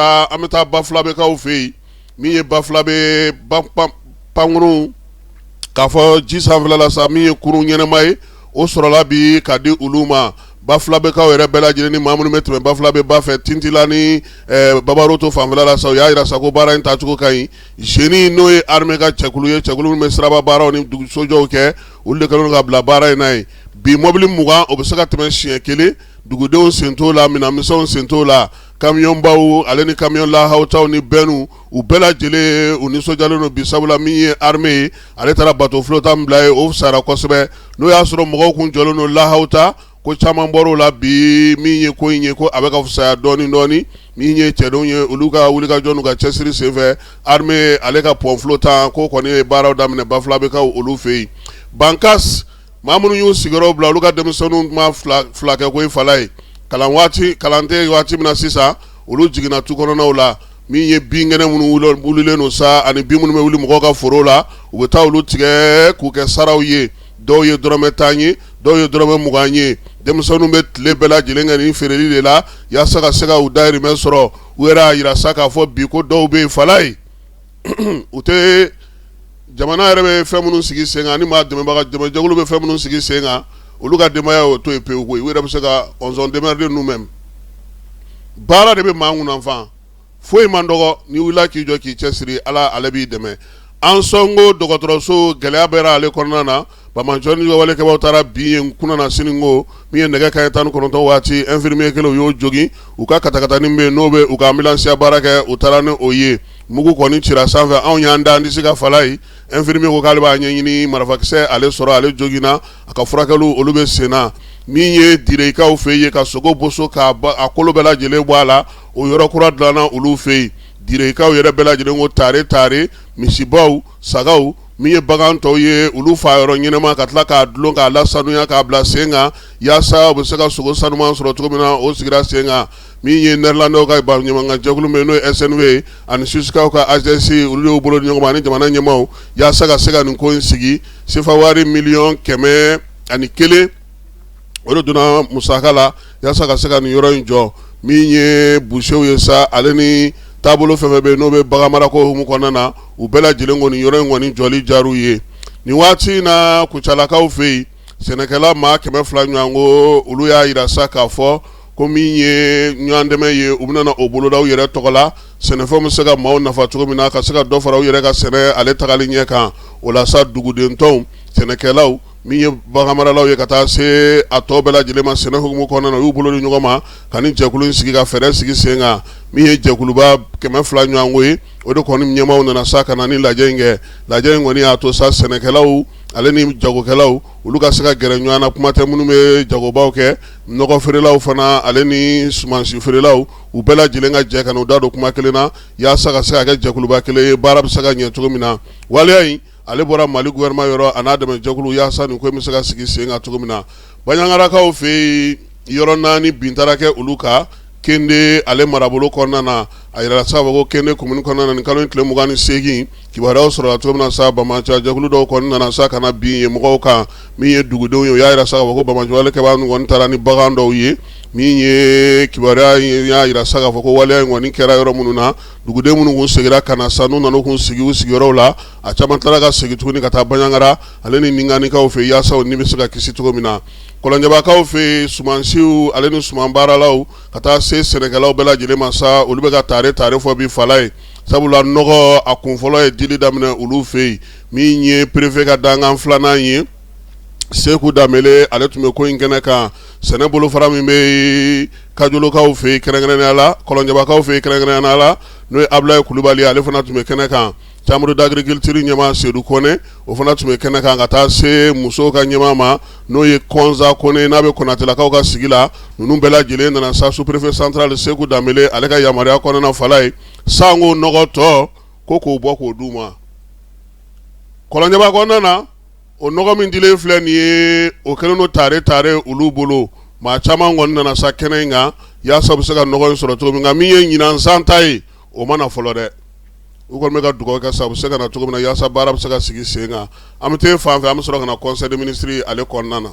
an bɛ taa bafilabɛkaw fɛ yen min ye bafilabɛ pankurun k'a fɔ ji sanfɛla la sa min ye kurun ɲɛnama ye o sɔrɔla bi k'a di olu ma bafilabɛkaw yɛrɛ bɛɛ lajɛlen ni ma minnu bɛ tɛmɛ bafilabɛ ba fɛ tintila ni babaroto fanfɛla la sa u y'a yira sa ko baara in tacogo ka ɲi zeni n'o ye arime ka cɛkulu ye cɛkulu minnu bɛ siraba baaraw ni dugusojɔw kɛ olu de kɛlen ka bila baara in na ye bi mɔbili mugan o bɛ se ka tɛmɛ siɲɛ kelen dugudenw sen t'o la minɛnmisɛnw sen t'o la kamiyonbaw ale ni kamiyon lahawutaw ni bɛnnu u bɛɛ lajɛlen u nisɔndiyalen don bi sabula min ye arime ye ale taara bato fulotan bila ye o sara kosɛbɛ n'o y'a sɔrɔ mɔgɔw kun jɔlen don lahawuta ko caman bɔr'o la bi min ye ko in ye ko a bɛ ka fisaya dɔɔnin dɔɔnin min ye cɛdenw ye olu ka wulikajɔ n'u ka cɛsiri senfɛ arime ale ka pɔn fulotan ko kɔni ye baaraw daminɛ bafilabɛkaw olu fɛ yen bankas ma minnu y'u sigiyɔrɔ bila olu ka denmisɛnninw ma fila kɛ ko ye falayi kalan tɛ yen waati min na sisan olu jiginna tu kɔnɔnaw la min ye binkɛnɛ minnu wulilen don sa ani bin minnu bɛ wuli mɔgɔw ka foro la u bɛ taa olu tigɛ k'u kɛ saraw ye dɔw ye dɔrɔmɛ tan ye dɔw ye dɔrɔmɛ mugan ye denmisɛnninw bɛ tile bɛɛ lajɛlen kɛ nin feereli de la yaasa ka se ka u dahirimɛ sɔrɔ u yɛrɛ y'a yira sa k'a fɔ bi ko dɔw bɛ yen falayi u tɛ jamana yɛrɛ bɛ fɛn minnu sigi sen kan ni maa dɛmɛbaga dɛmɛjɛkulu bɛ fɛn minnu sigi sen kan olu ka denbaya o to yen pewu koyi u yɛrɛ bɛ se ka on s'en démerde nous-mêmes baara de bɛ maa ŋunan fa foyi man dɔgɔ n'i wulila k'i jɔ k'i cɛsiri ala ale b'i dɛmɛ ansɔngo dɔgɔtɔrɔso gɛlɛya bɛ ale kɔnɔna na banbaanci walekɛbaw taara bin yen kunasinin kɔ min ye nɛgɛ kanɲɛ tan ni kɔnɔntɔn waati ɛnfirimiye kelen u y'o jogin u ka katakatanin min n'o bɛ u ka anbilansiya baara kɛ u taara ni o ye mugu kɔni cira sanfɛ anw y'an da an disi kan falayi ɛnfirimiye ko k'ale b'a ɲɛɲini marafakisɛ ale sɔrɔ ale joginna a ka furakɛli olu bɛ sen na min ye direkaw fɛ yen ka sogo boso ka a kolo bɛɛ lajɛlen bɔ a la o yɔrɔ kura dilanna olu fɛ yen direkaw yɛrɛ bɛɛ lajɛlen ko tare tare misibaw sagaw min ye bagan tɔw ye olu faa yɔrɔ ɲɛnama ka tila k'a dulon k'a lasanuya k'a bila sen kan yaasa u bɛ se ka sogo sanuman sɔrɔ cogo min na o sigira sen kan min ye nɛrilandɛw ka baɲumankɛ jɛkulu min n'o ye snv ye ani suwisikaw ka hsi olu y'u bolo di ɲɔgɔn ma ani jamana ɲɛmaw yaasa ka se ka nin ko in sigi sefa wari miliyɔn kɛmɛ ani kelen o de donna musaka la yaasa ka se ka nin yɔrɔ in jɔ min ye busew ye sa ale ni taabolo fɛn fɛn bɛ yen n'o bɛ bagan marako hukumu kɔnɔna na u bɛɛ lajɛlen kɔni yɔrɔ in kɔni jɔli diyar'u ye nin waati in na kucalakaw fɛ yen sɛnɛkɛla maa kɛmɛ fila ɲɔgɔn ko olu y'a yira sa k'a fɔ ko min ye ɲɔgɔn dɛmɛ ye u bɛna o boloda u yɛrɛ tɔgɔ la sɛnɛfɛn bɛ se ka maaw nafa cogo min na ka se ka dɔ fara u yɛrɛ ka sɛnɛ ale tagali ɲɛ kan o la sa duguden tɔw sɛnɛkɛlaw min ye baganmaralaw ye ka taa se a tɔ bɛɛ lajɛlen ma sɛnɛ hukumu kɔnɔna na u y'u bolo di ɲɔgɔn ma ka nin jɛkulu in sigi ka fɛɛrɛ sigi sen kan min ye jɛkuluba kɛmɛ fila ɲɔgɔn ko ye o de kɔni ɲɛmaaw nana sa ka na ni lajɛ in kɛ lajɛ in kɔni y'a to sa sɛnɛkɛlaw ale ni jagokɛlaw olu ka se ka gɛrɛ ɲɔgɔn na kuma tɛ minnu bɛ jagobaw kɛ nɔgɔ feerelaw fana ale ni sumansi feerelaw u bɛɛ lajɛlen ka jɛ ka u da don kuma kelen na yaasa ka se ka kɛ jɛkuluba kelen ye baara bɛ se ka ɲɛ cogo min na waleya in ale bɔra mali gouvernement yɔrɔ a n'a dɛmɛjɛkulu yaasa nin ko in bɛ se ka sigi sen kan cogo min na banjagarakaw fɛ yen yɔrɔ naani bin taara kɛ olu kan kende ale marabolo kɔnɔna na a yɛrɛ sababu ko kende commune kɔnɔna na nin kalo in tile mugan ni segin kibaruyaw sɔrɔla cogo min na sa banbaanci jɛkulu dɔw kɔni nana sa ka na bin ye mɔgɔw kan min ye dugudenw ye u y'a yira sa k'a fɔ ko banbaanci walekɛbaa ninnu kɔni taara ni bagan dɔw ye min ye kibaruya y'a jira sa k'a fɔ ko waleya in kɔni kɛra yɔrɔ minnu na Dugudenw minnu kun segira ka na sa n'u nana kun sigi u sigiyɔrɔw la a caman tilara ka segin tuguni ka taa banjagara ale ni ningarikaw fɛ yaasa u ni bɛ se ka kisi cogo min na kɔlɔnjɛbakaw fɛ yen sumansiw ale ni suman baaralaw ka taa se sɛnɛkɛlaw bɛɛ lajɛlen ma sa olu bɛ ka tare tare fɔ bi fala ye sabula nɔgɔ a kun fɔlɔ ye dili daminɛ olu fɛ yen min ye préfet ka dankan filanan ye seku danbele ale tun bɛ ko in kɛnɛ kan sɛnɛ bolofara min bɛ kajolokaw fɛ yen kɛrɛnkɛrɛnnenya la kɔlɔnjɛbakaw fɛ yen kɛrɛnkɛrɛnnenya la n'o ye abulayi kulubali ye ale fana tun bɛ kɛnɛ kan chambre d'agriculture ɲɛmaa sedu kɔnɛ o fana tun bɛ kɛnɛ kan ka taa se musow ka ɲɛmaa ma n'o ye kɔnsa kɔnɛ n'a bɛ konatelakaw ka sigi la ninnu bɛɛ lajɛlen nana sa sous-préfet central seku danbele ale ka yamaruya kɔnɔna fala ye sango nɔgɔ tɔ ko k'o bɔ k'o d'u ma kɔlɔnjɛba na o nɔgɔ min dilen filɛ nin ye o kɛlen don tare tare olu bolo maa caman kɔni nana sa kɛnɛ in kan yaasa u bɛ se ka nɔgɔ in sɔrɔ cogo min nka min ye ɲinan san ta ye o ma na fɔlɔ dɛ u kɔni bɛ ka dugawu kɛ sa u bɛ se ka na cogo min na yaasa baara bɛ se ka sigi sen kan an bɛ taa fan fɛ an bɛ sɔrɔ ka na conseil des ministres ale kɔnɔna na